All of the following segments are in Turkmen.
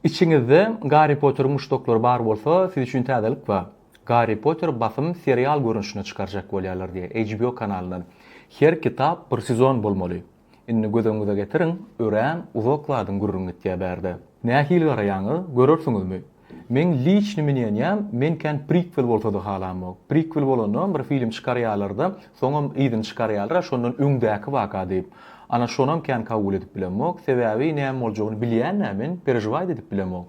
Içiňizde Garri Potteriň muşdaklary bar bolsa, siz üçin täzelik bar. Garri Potter basym serial görnüşinde çykarjak bolýarlar diýe HBO kanalyndan. Her kitap bir sezon bolmaly. Indi göz öňüňize getiriň, örän uzak zadyň gürrüňi gitýä bärde. Nähili garaýaňyz, görersiňizmi? Meň liçni minýenýäm men kän prikwel bolsada halamok. Prikwel bolandam bir film çykarýalarda soňam yzyny çykarýalara şondan öňdäki waka diýip. Ana şonam kän kabul edip bilemok. Sebäbi näme boljagyny bilýämä men perežwaýt edip bilemok.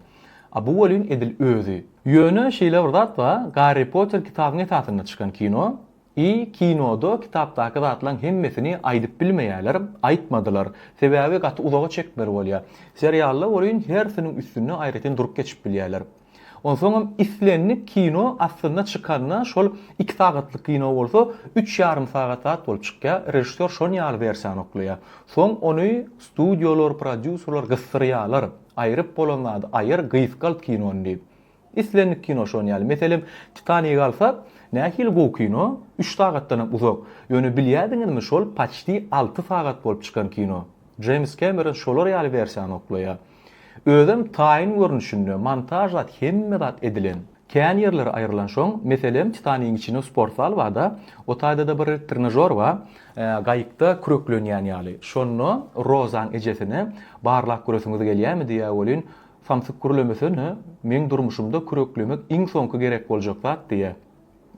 A bu welin edil özi. Ýöne şeýle bir zat bar Garri Potter kitabyň esasynda çykan kino. I kinoda kitapdaky zatlaň hemmesini aýdyp bilmeýäler, aýtmadylar. Sebäbi gaty uzaga çekmeli bolýa. Serialda welin hersiniň üstünde aýratyn durup geçip bilýäler. Onsoňam islendik kino aslynda çykanda şol iki sagatlyk kino bolsa üç ýarym sagat zat bolup çykýa, režissýor şon ýaly wersiýany oklaýa. Soň ony studiýalar, prodýuserler gysdyrýalar, aýryp bolan zady aýyr, gysgalt kinony diýip. Islendik kino şon ýaly. Meselem, Titanigi alsak, nähili gowy kino, üç sagatdanam uzak. Ýöne bilýärdiňizmi, şol paçti alty sagat bolup çykan kino. Jeýms Kemeron şolar ýaly wersiýany oklaýar. Özem taýyn görnüşinde, montaž zat, hemme zat edilen. Kän ýerleri aýrylanşoň, meselem, Titanigiň içinde sportzal bar-da, o taýda-da bir trenažor bar, gaýykda küreklenýän ýaly. Şonda Rozaň ejesine barlap göresiňiz gelýärmi diýýär welin, Samsyk gürlemesene, meň durmuşymda küreklemek iň soňky gerek boljak zat, diýýä.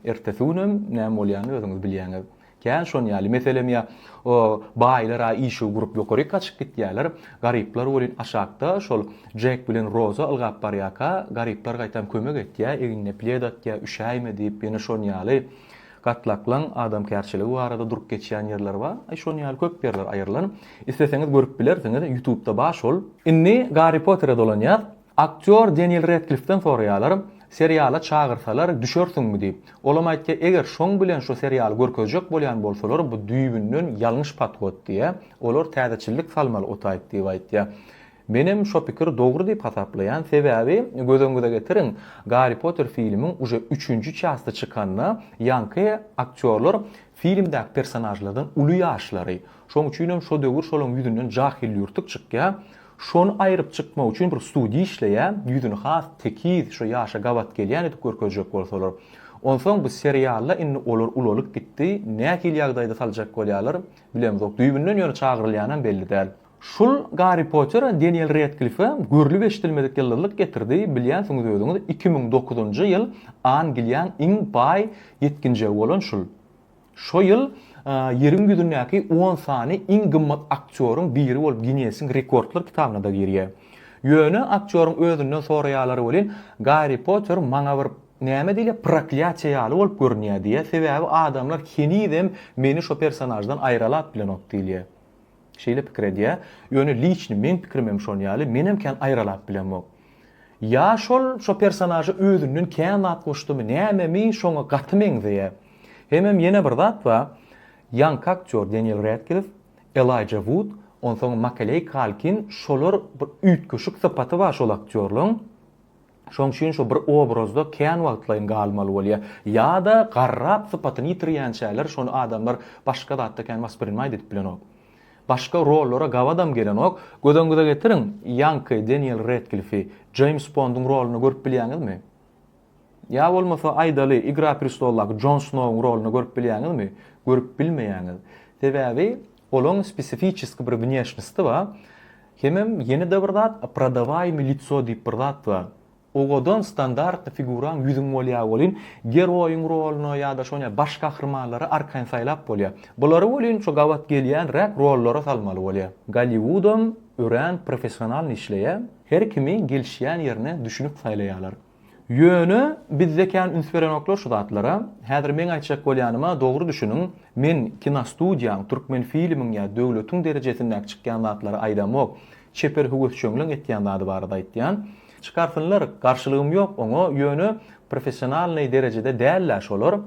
Ertesi günem näme bolýanyny özüňiz bilýäňiz. Kän şonýaly meselem ýa o baýlar-a işigi gurup ýokaryk gaçyp gitýärler, garyplar welin aşakda şol Jek bilen Roza ylgap barýarka, garyplar gaýtam kömek etýä, egnine pled atýa, üşäýme diýip, ýene şonýaly Gatlaklaň adamkärçiligi barada durup geçýän ýerler bar. Aý şon ýaly köp ýerler aýrylan. Isleseňiz görüp bilersiňiz, ýutubda bar şol. Indi Garri Potere dolanýas. Aktýor Deniel Redklifden soraýalar, Seriala çagyrsalar düşersiňmi diýip. Olam aýtýa, Eger şoň bilen şu serialy görkezjek bolýan bolsalar bu düýbünden ýalňyş podhod diýýä. Olar täzeçillik salmaly otaýyp diýip aýtýa. Menem şo pikir dogry diýip hasaplaýan sebäbi gözüňize getiriň Garri Potter filmiň uje üçünji çasty çykanda ýaňky aktýorlar filmdäki personažlardan uly ýaşlary şoň üçinem şo döwür şolaň ýüzünden jahylýurtuk çykýa şony aýryp çykmak üçin bir studiýa işleýä ýüzüni has tekiz şo ýaşa gabat gelýän edip görkezjek bolsalar onsoň bu serialda indi olar ulalyp gitdi nähili ýagdaýda saljak bolýalar bilemzok düýbünden ýöne çagyrylýanam belli däl. Şul Garri Pottera Deniel Redklife görlüp eşidilmedik ýyldyzlyk getirdi bilýänsiňiz özüňiz iki müň dokuzynjy ýyl Angliýaň iň baý ýetginjegi bolan şul şo ýyl ýeriň ýüzündäki on sany iň gymmat aktýoryň biri bolup Ginnesiň rekordlar kitabyna-da girýär ýöne aktýoryň özünden soraýalary welin Garri Potter maňa bir näme diýilýär proklýatiýa ýaly bolup görünýär diýýär sebäbi adamlar henizem meni şo personaždan aýralap bilenok diýilýär Şeýle pikir edýä, ýöne liçni meň pikirimem şon ýaly, menem kän aýralap bilemok. Ýa şol şo personaža özünden kän zat goşdymy, nämemi şoňa gaty meňzeýä. Hemem ýene bir zat ba, ýaňky aktýor Deniel Redkliff, Elaýja Wud, onsoň Makeleý Kalkin şolar bir üýtgeşik sypaty ba şol aktýorlaň. Şoň üçin şu bir obrazda kän wagtlaýyn galmaly bolýar. Ýa-da garrap sypatyny ýitirýänçäler şony adamlar başga zatda kän wasprinimait edip bilenok. Başga rollara gabadam gelenok. Gözeňize getiriň, ýaňky Deniel Redklifi Jeýms Bonduň rolunda görüp bilýäňizmi? Ýa bolmasa aýdaly Igra prestoldaky Jon Snowyň rolunda görüp bilýäňizmi? Görüp bilmeýäňiz. Sebäbi Olaň spesifiçeski bir wnýeşnosti bar. Hemem ýene-de bir zat, prodawajmy lico diýip bir zat bar. Owadan standartny figuraň ýüzüň bolýar welin, geroýyň roluna ýa-da şon ýaly baş gahrymanlary arkaýyn saýlap bolýar. Bulary welin şo gabat gelýänräk rollara salmaly bolýar. Golliwudam örän professionalny işleýär. Her kimi gelişýän ýerine düşünip saýlaýarlar. Ýöne bizde kän üns berenoklar şu zatlara. Häzir meň aýtjak bolýanyma dogry düşüniň, men kinostudiýaň, Türkmenfilmiň ýa döwletiň derejesindäki çykýan zatlary aýdamok, çeper höwesjeňleň etýän zady barada aýtýan. Çykarsynlar, garşylygym ýok oňa, ýöne professionalnyý derejede däl-ä şolar.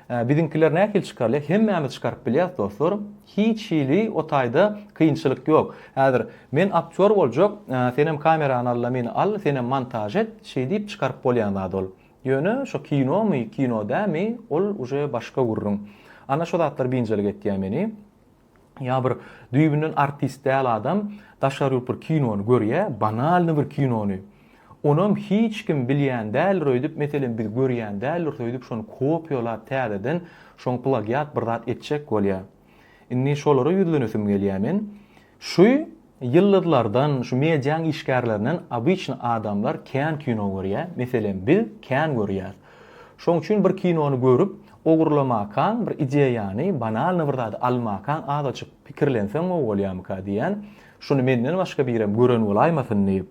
Hä biziňkiler nähili çykarylýar hemmämiz çykaryp bilýäs dostlar hiç hili o taýda kynçylyk ýok häzir men aktýor boljak senem kamerany alla meni al senem montaž et şeýdip çykaryp bolýan zat ol ýöne şo kinomy kino dämi ol uje başga gürrüň ana şo zatlar biynjalyk etýä meni. ýa bir düýbünden artist däl adam daşary ýurt bir kinony görýä, banalny bir kinony, onam hiç kim bilýän däldir öýdüp, meselem biz görýän däldiris öýdüp şony kopiýalap täzeden şoň plagiat bir zat etjek bolýa. Indi şolara ýüzlenesim gelýä men. Şu Ýyldyzlardan, şu mediaň işgärlerinden obyçny adamlar kän kino görýä, meselem biz kän görýäs. Şoň üçin bir kinony görüp, ogurlamakaň, bir ideýany, banalny bir zady almakaň azaçyk pikirlenseň gowy bolýamyka diýän, şuny menden başga birem gören bolaýmasyn diýip.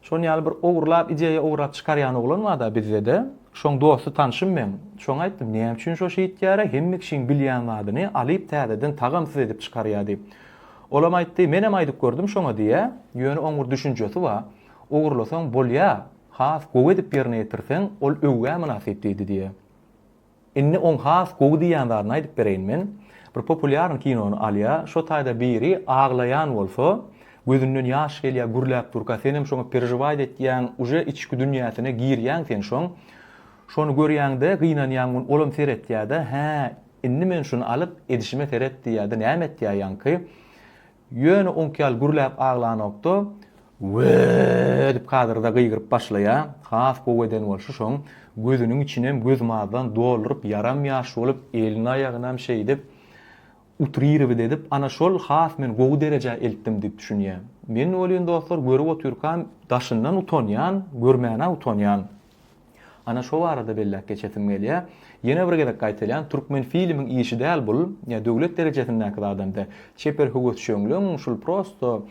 Şoň ýaly bir ogurlap ideýa ograp çykarýan oglan bada bizdede. Şoň dosty tanşym meň. Şoňa aýtdym näme üçin şo şeýtýäre hemme kişiň bilýän zadyny alyp täzeden tagamsyz edip çykarýa diýip. Olam aýtdy menem aýdyp gördüm şoňa diýä ýöne oň bir düşünjesi ba ogurlasaň bolýa has gowy edip ýerine ýetirseň ol öwgä mynasyp diýdi diýä. Indi oň has gowy diýýän zadyny aýdyp bereýin men. Bir populýarny kinony alýa, şo taýda biri aglaýan bolsa, gözünden ýaş gelýä gürläp durka senem şoňa perežiwaýt etýäň, uje içki dünýäsine girýäň sen şoň. Şony görýäňde gynanýaň gun olam seretýädä, hä, indi men şuny alyp edişime seret diýýädä näme etýä ýaňky. Ýöne oňki ýaly gürläp aglanokda, Wee! edip kadyrda gygyryp başlaýa, has gowy eden bolşy şoň, gözüniň içinem gözmazdan dolduryp ýaram ýaş bolup, elini aýagynam şeýdip, utrirowyt edip, ana şol has men gowy derejä eltdim diýip düşünýä. Men welin dostlar görüp otyrkam daşyndan utanýan, görmänä utanýan. Ana şo barada belläp geçesim gelýär. Ýene bir gezek gaýtalýan, Türkmenfilmiň işi däl bul, ýa döwlet derejesindäki zadamda. Çeper höwesjeňligiň şul prosto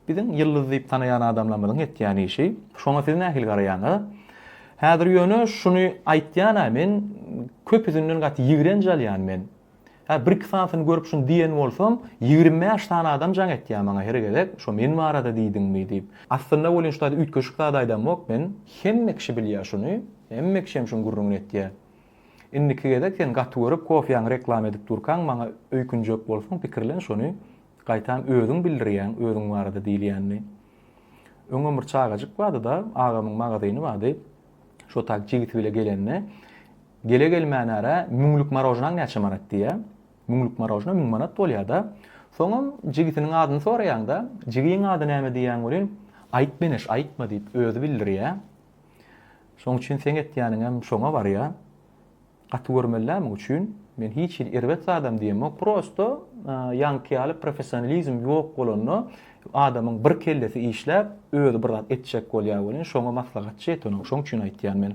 biziň ýyldyz diýip tanaýan adamlarymyzyň etýän işi. Şoňa siz nähili garaýaňyz? Häzir ýöne şuny aýtýan-a men köpüsinden gaty ýigrenç alýan men. Hä, bir-iki sanysyny görüp şuny diýen bolsam, ýigrimi bäş sany adam jaň etýär maňa her gezek, şo men barada diýdiňmi diýip. Aslynda welin şu zady üýtgeşik zat aýdamok men, hemme kişi bilýär şuny, hemme kişem şuň gürrüňini etýär. Indiki gezek sen gaty görüp kofýaňy reklama edip durkaň maňa öýkünjek bolsaň pikirlen şuny, gaýtam özüň bildirýäň özüň barada diýilýänini. Öňem bir çagajyk bardy-da, agamyň magazyny bardy. Şo tak jigisi bile gelende, Gele-gelmän ara Müňlük marožnaň näçe manat diýýä. Müňlük marožna müň manat bolýa-da. Soňam jigitiniň adyny soraýaň-da, Jigiň ady näme diýýäň welin, Aýt meneş, aýtma diýip, özi bildirýä. Şoň üçin seň etýäniňem şoňa barýa. Gaty görmeli-dä muň üçin. Men hiç hili erbet zadam diýemok. Prosto ýaňky ýaly professionalizm ýok bolanda, adamyň bir kellesi işläp, özi bir zat etjek bolýa welin, şoňa maslahatçy ýeten ol. Şoň üçin aýtýan men.